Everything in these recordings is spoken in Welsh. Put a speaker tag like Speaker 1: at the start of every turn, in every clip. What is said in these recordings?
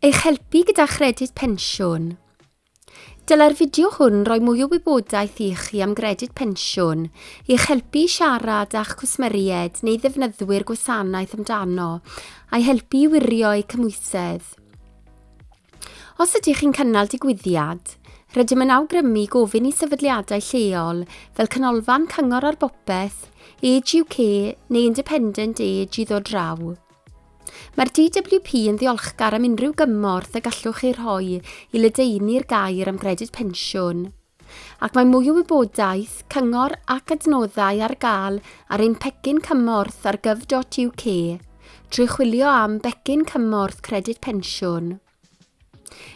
Speaker 1: Eich helpu gyda chredyd pensiwn. Dylai'r fideo hwn roi mwy o wybodaeth i chi am gredyd pensiwn, i'ch helpu i siarad â'ch cwsmeriaid neu ddefnyddwyr gwasanaeth amdano, a'i helpu i wirio eu cymhwysedd. Os ydych chi'n cynnal digwyddiad, rydym yn awgrymu gofyn i sefydliadau lleol fel Canolfan Cyngor ar Bopeth, Age UK neu Independent Age i ddod draw. Mae'r DWP yn ddiolchgar am unrhyw gymorth y gallwch ei rhoi i ledaenu'r gair am gredyd pensiwn. Ac mae mwy o wybodaeth, cyngor ac adnoddau ar gael ar ein pecyn cymorth ar gov.uk trwy chwilio am Becyn Cymorth Credyd Pensiwn.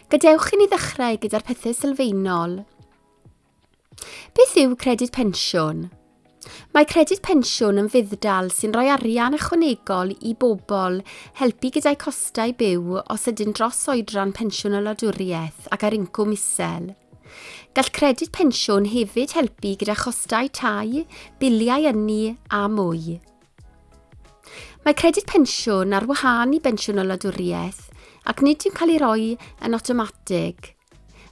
Speaker 1: Gadewch i ni ddechrau gyda'r pethau sylfaenol. Beth yw Credyd Pensiwn? Mae Credyd Pensiwn yn fudd-dal sy'n rhoi arian ychwanegol i bobl helpu gyda'u costau byw os ydy'n dros oedran pensiwn y wladwriaeth ac ar incwm isel. Gall Credyd Pensiwn hefyd helpu gyda chostau tai, biliau ynni a mwy. Mae Credyd Pensiwn ar wahân i Bensiwn y Wladwriaeth ac nid yw'n cael ei roi yn awtomatig.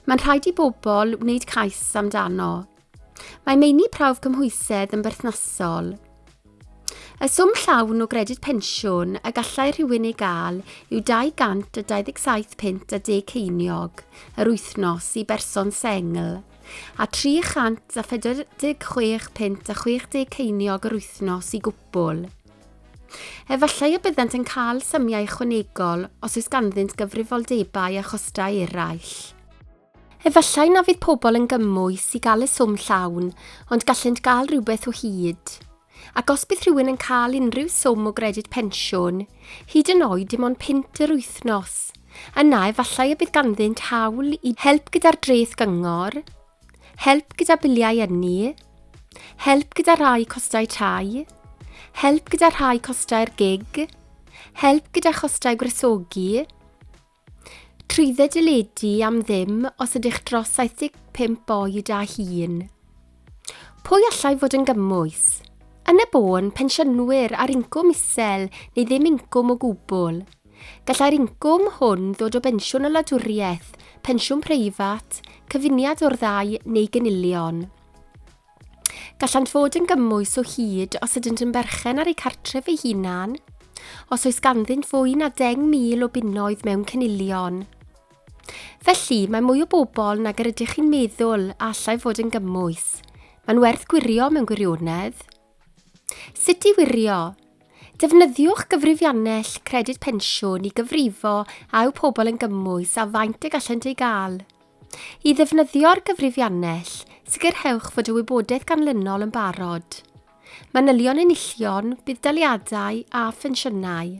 Speaker 1: Mae'n rhaid i bobl wneud cais amdano. Mae meini prawf cymhwysedd yn berthnasol. Y swm llawn o gredyd pensiwn y gallai rhywun ei gael yw 227 punt a deg ceiniog yr wythnos i berson sengl a 346 punt a 60 ceiniog yr wythnos i gwpwl. Efallai y byddant yn cael symiau ychwanegol os oes ganddynt gyfrifoldebau a chostau eraill. Efallai na fydd pobl yn gymwys i gael y swm llawn, ond gallent gael rhywbeth o hyd. Ac os bydd rhywun yn cael unrhyw swm o gredyd pensiwn, hyd yn oed dim ond punt yr wythnos, yna efallai y bydd ganddynt hawl i help gyda'r dreth gyngor, Help gyda biliau ynni. Help gyda rhai costau tai. Help gyda rhai costau'r gig. Help gyda chostau gwresogi. Trwydde deledu am ddim os ydych dros 75 oed a hun. Pwy allai fod yn gymwys? Yn y bôn, pensiynwyr ar incwm isel neu ddim incwm o gwbl. Gallai'r incwm hwn ddod o bensiwn y wladwriaeth, pensiwn preifat, cyfuniad o'r ddau neu gynilion. Gallant fod yn gymwys o hyd os ydynt yn berchen ar eu cartref eu hunan, os oes ganddynt fwy na 10,000 o bunnoedd mewn cynilion. Felly, mae mwy o bobl nag yr ydych chi'n meddwl a allai fod yn gymwys. Mae'n werth gwirio mewn gwirionedd. Sut i wirio? Defnyddiwch gyfrifiannell Credyd Pensiwn i gyfrifo a yw pobl yn gymwys a faint y gallent ei gael. I ddefnyddio'r gyfrifiannell, sicrhewch fod y wybodaeth ganlynol yn barod. Manylion enillion, budd-daliadau a phensiynau.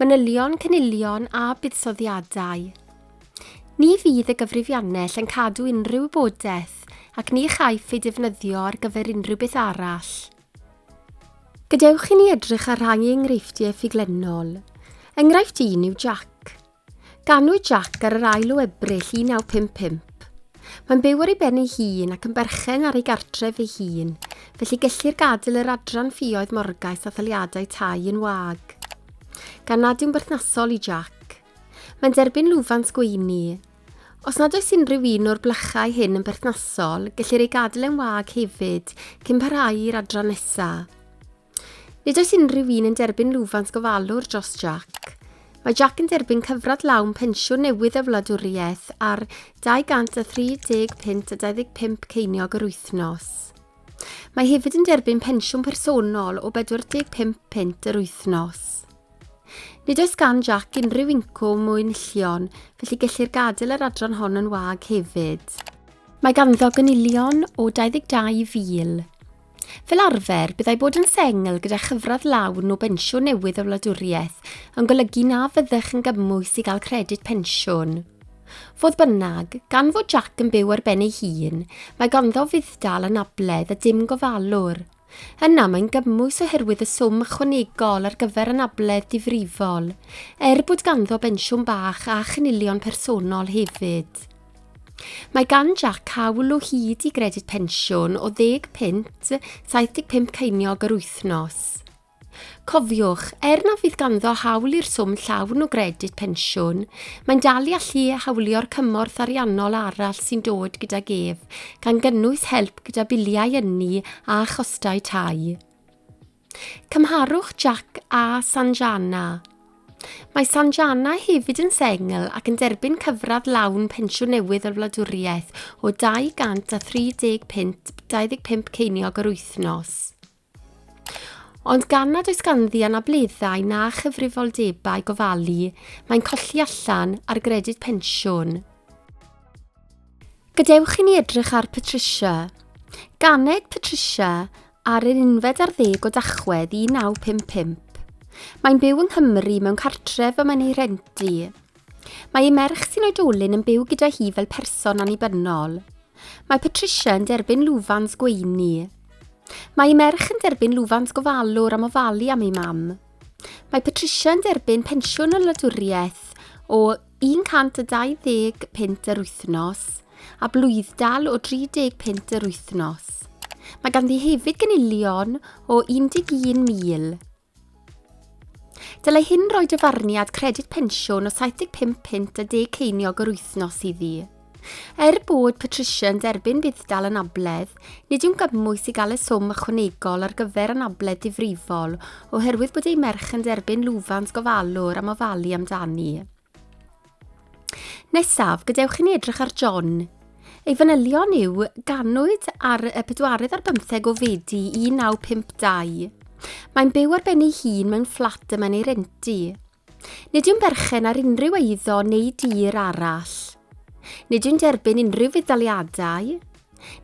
Speaker 1: Manylion, cynilion a buddsoddiadau. Ni fydd y gyfrifiannell yn cadw unrhyw wybodaeth ac ni chaiff ei defnyddio ar gyfer unrhyw beth arall. Gadewch i ni edrych ar rhai enghreifftiau ffuglennol. Enghraifft un yw Jac. Ganwyd Jack ar yr ail o Ebrill 1955. Mae'n byw ar ei ben ei hun ac yn berchen ar ei gartref ei hun, felly gellir gadael yr adran ffioedd morgais a thaliadau tai yn wag. Gan nad yw'n berthnasol i Jack. Mae'n derbyn lwfans gweini. Os nad oes unrhyw un o'r blychau hyn yn berthnasol, gellir ei gadael yn wag hefyd cyn parhau i'r adran nesaf. Nid oes unrhyw un yn derbyn lwfans gofalwr dros Jack. Mae Jack yn derbyn cyfradd lawn pensiwn newydd y wladwriaeth ar 230 punt a 25 ceiniog yr wythnos. Mae hefyd yn derbyn pensiwn personol o 45 punt yr wythnos. Nid oes gan Jack unrhyw incwm o enillion, felly gellir gadael yr adran hon yn wag hefyd. Mae ganddo gynilion o 22,000 Fel arfer, byddai bod yn sengl gyda chyfradd lawn o bensiwn newydd y wladwriaeth yn golygu na fyddech yn gymwys i gael credyd pensiwn. Fodd bynnag, gan fod Jack yn byw ar ben ei hun, mae ganddo fudd-dal anabledd a dim gofalwr. Yna mae'n gymwys oherwydd y swm ychwanegol ar gyfer anabledd difrifol, er bod ganddo bensiwn bach a chynilion personol hefyd. Mae gan Jac cawl o hyd i gredyd pensiwn o ddeg punt, 75 ceiniog yr wythnos. Cofiwch, er na fydd ganddo hawl i'r swm llawn o gredyd pensiwn, mae'n dal i allu hawlio'r cymorth ariannol arall sy'n dod gydag ef, gan gynnwys help gyda biliau ynni a chostau tai. Cymharwch Jack a Sanjana. Mae Sanjana hefyd yn sengl ac yn derbyn cyfradd lawn pensiwn newydd o'r wladwriaeth o 235 25 ceiniog yr wythnos. Ond gan nad oes ganddi anableddau na chyfrifoldebau gofalu, mae'n colli allan ar gredyd pensiwn. Gadewch i ni edrych ar Patricia. Ganed Patricia ar yr unfed ar ddeg o Dachwedd 1955. Mae'n byw yng Nghymru mewn cartref y mae'n ei rhentu. Mae ei merch sy'n oedolyn yn byw gyda hi fel person annibynnol. Mae Patricia yn derbyn lwfans gweini. Mae ei merch yn derbyn lwfans gofalwr am ofalu am ei mam. Mae Patricia yn derbyn pensiwn y wladwriaeth o Un cant a dau ddeg punt yr wythnos, a blwyddal o 30 punt yr wythnos. Mae ganddi hefyd gynilion o 11,000. Dylai hyn roi dyfarniad credyd pensiwn o 75 punt a deg ceiniog yr wythnos iddi. Er bod Patricia yn derbyn budd-dal anabledd, nid yw'n gymwys i gael y swm ychwanegol ar gyfer anabledd difrifol oherwydd bod ei merch yn derbyn lwfans gofalwr am ofalu amdani. Nesaf, gadewch i ni edrych ar John. Ei fanylion yw ganwyd ar y pedwaredd ar bymtheg o Fedi 1952. Mae'n byw ar ben ei hun mewn fflat y mae'n ei rentu. Nid yw'n berchen ar unrhyw eiddo neu dir arall. Nid yw'n derbyn unrhyw fudd-daliadau.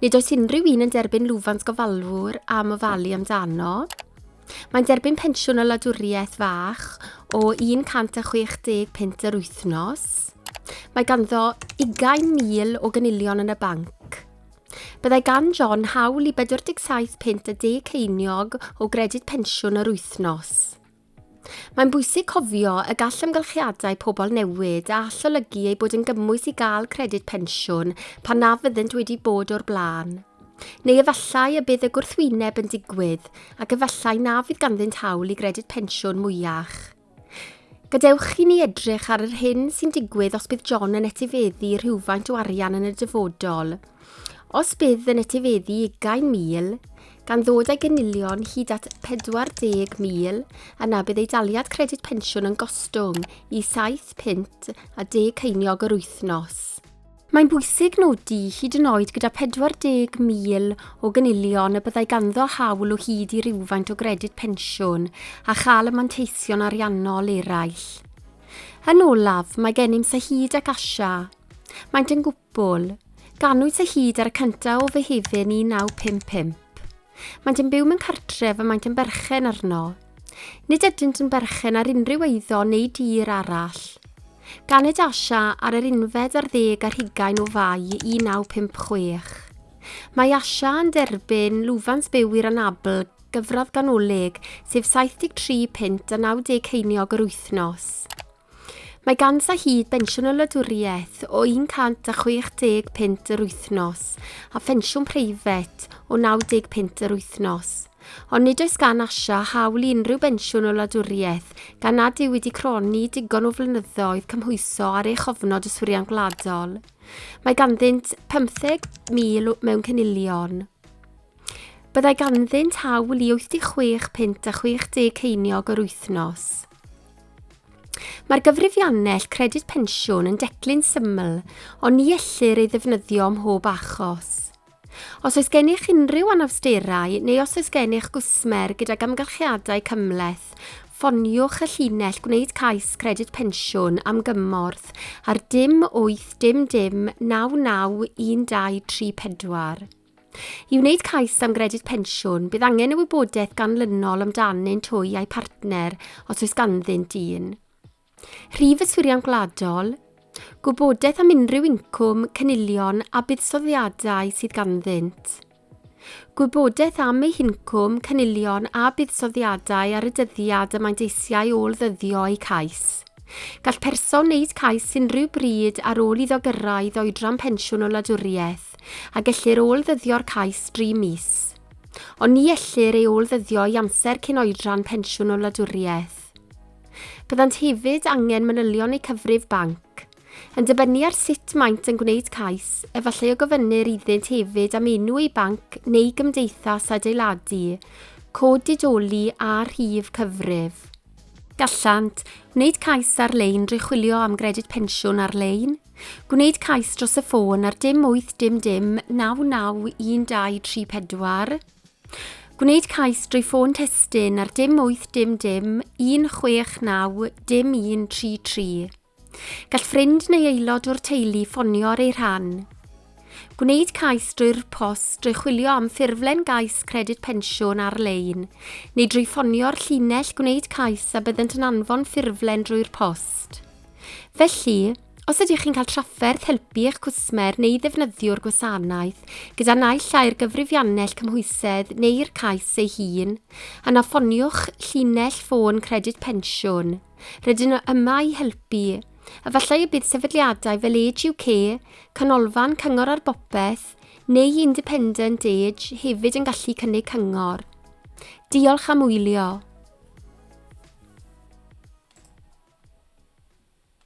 Speaker 1: Nid oes unrhyw un yn derbyn lwfans gofalwr am ofalu amdano. Mae'n derbyn pensiwn o wladwriaeth fach o 160 punt yr wythnos. Mae ganddo 20,000 o gynilion yn y banc. Byddai gan John hawl i 47 punt a deg ceiniog o gredyd pensiwn yr wythnos. Mae'n bwysig cofio y gall amgylchiadau pobl newid a all olygu ei bod yn gymwys i gael credyd pensiwn pan na fyddynt wedi bod o'r blaen. Neu efallai y bydd y gwrthwyneb yn digwydd ac efallai na fydd ganddynt hawl i gredyd pensiwn mwyach. Gadewch i ni edrych ar yr hyn sy'n digwydd os bydd John yn etifeddu rhywfaint o arian yn y dyfodol. Os bydd yn etifeddu ugain mil, gan ddod â'i gynilion hyd at 40,000 yna bydd ei daliad credyd pensiwn yn gostwng i 7 punt a deg ceiniog yr wythnos. Mae'n bwysig nodi, hyd yn oed gyda 40,000 o gynilion y byddai ganddo hawl o hyd i rywfaint o gredyd pensiwn a chael y manteision ariannol eraill. Yn olaf, mae gennym Sahid ac Asha. Maent yn gwybod Bwl. Ganwyd sy hyd ar y cyntaf o Fehefin 1955. Maent yn byw mewn cartref y maent yn berchen arno. Nid ydynt yn berchen ar unrhyw eiddo neu dir arall. Ganed Asha ar yr unfed ar ddeg ar hugain o Fai 1956. Mae Asha yn derbyn lwfans byw i'r anabl gyfradd ganolig, sef 73 punt a 90 ceiniog yr wythnos. Mae ganddo hyd bensiwn o wladwriaeth o 160 punt yr wythnos a phensiwn preifat o 90 punt yr wythnos. Ond nid oes gan Asha hawl i unrhyw bensiwn o wladwriaeth gan nad yw wedi cronni digon o flynyddoedd cymhwyso ar ei chofnod yswiriant gwladol. Mae ganddynt 15,000 mewn cynilion. Byddai ganddynt hawl i 86 punt a 60 ceiniog yr wythnos. Mae'r gyfrifiannell Credyd Pensiwn yn declyn syml, ond ni ellir ei ddefnyddio ym mhob achos. Os oes gennych unrhyw anawsterau neu os oes gennych gwsmer gydag amgylchiadau cymhleth, ffoniwch y llinell Gwneud Cais Credyd Pensiwn am gymorth ar dim 8 dim dim 99 1234. I wneud cais am gredyd pensiwn, bydd angen y wybodaeth ganlynol amdanyn twy a'i partner os oes ganddynt un. Rhif yswiriant gwladol, gwybodaeth am unrhyw incwm, cynilion a buddsoddiadau sydd ganddynt. Gwybodaeth am eu hincwm, cynilion a buddsoddiadau ar y dyddiad y maent eisiau ôl-ddyddio eu cais. Gall person wneud cais unrhyw bryd ar ôl iddo gyrraedd oedran pensiwn o wladwriaeth, a gellir ôl-ddyddio'r cais dri mis. Ond ni ellir ei ôl-ddyddio i amser cyn oedran pensiwn o wladwriaeth. Byddant hefyd angen manylion eu cyfrif banc. Yn dibynnu ar sut maent yn gwneud cais, efallai y gofynnir iddynt hefyd am enw eu banc neu gymdeithas adeiladu, cod didoli a rhif cyfrif. Gallant wneud cais ar-lein drwy chwilio am gredyd pensiwn ar-lein, gwneud cais dros y ffôn ar dim 8 dim dim 991234, gwneud cais drwy ffôn testun ar dim 8 dim dim 169 dim 133. Gall ffrind neu aelod o'r teulu ffonio ar ei rhan. Gwneud cais drwy'r post, drwy chwilio am ffurflen gais Credyd Pensiwn ar-lein, neu drwy ffonio'r llinell gwneud cais a byddant yn anfon ffurflen drwy'r post. Felly, os ydych chi'n cael trafferth helpu eich cwsmer neu ddefnyddiwr gwasanaeth gyda naill ai'r gyfrifiannell cymhwysedd neu'r cais ei hun, yna ffoniwch llinell ffôn Credyd Pensiwn. Rydyn nhw yma i helpu. Efallai y bydd sefydliadau fel Age UK, Canolfan Cyngor ar Bopeth, neu Independent Age hefyd yn gallu cynnig cyngor. Diolch am wylio.